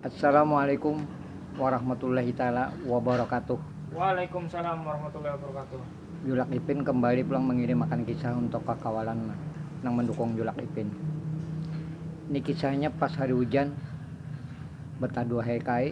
Assalamualaikum warahmatullahi taala wabarakatuh. Waalaikumsalam warahmatullahi wabarakatuh. Julak Ipin kembali pulang mengirim akan kisah untuk kakawalan nang mendukung Julak Ipin. Ini kisahnya pas hari hujan, betaduh hai kai.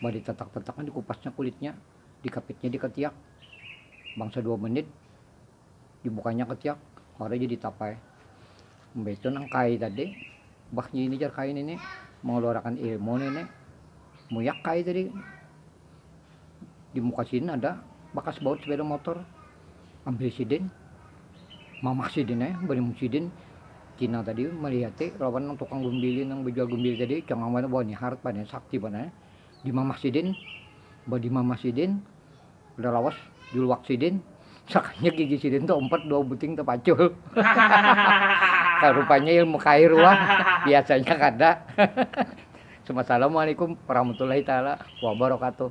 bah ditatak-tatakan dikupasnya kulitnya dikapitnya dikatiak bangsa dua menit dibukanya ketiak baru jadi tapai mbah itu nang kai tadi bah ini jar kai ini mengeluarkan ilmu ini muyak kai tadi di muka sini ada bakas baut sepeda motor Ambil sidin, mamak sidin ai banyu sidin cina tadi malihati lawan nang tukang gumbili nang bajual gumbili tadi cangang banar wah ni harat banar sakti banar di mamak sidin badimamah sidin kada lawas juluak sidin sakalinya gigi sidin tu umpat dua buting tapacul hahaha rupanya ilmu kair wah biasanya kada hahaha. Assalamualaikum warahmatullahi taala wabarakatuh.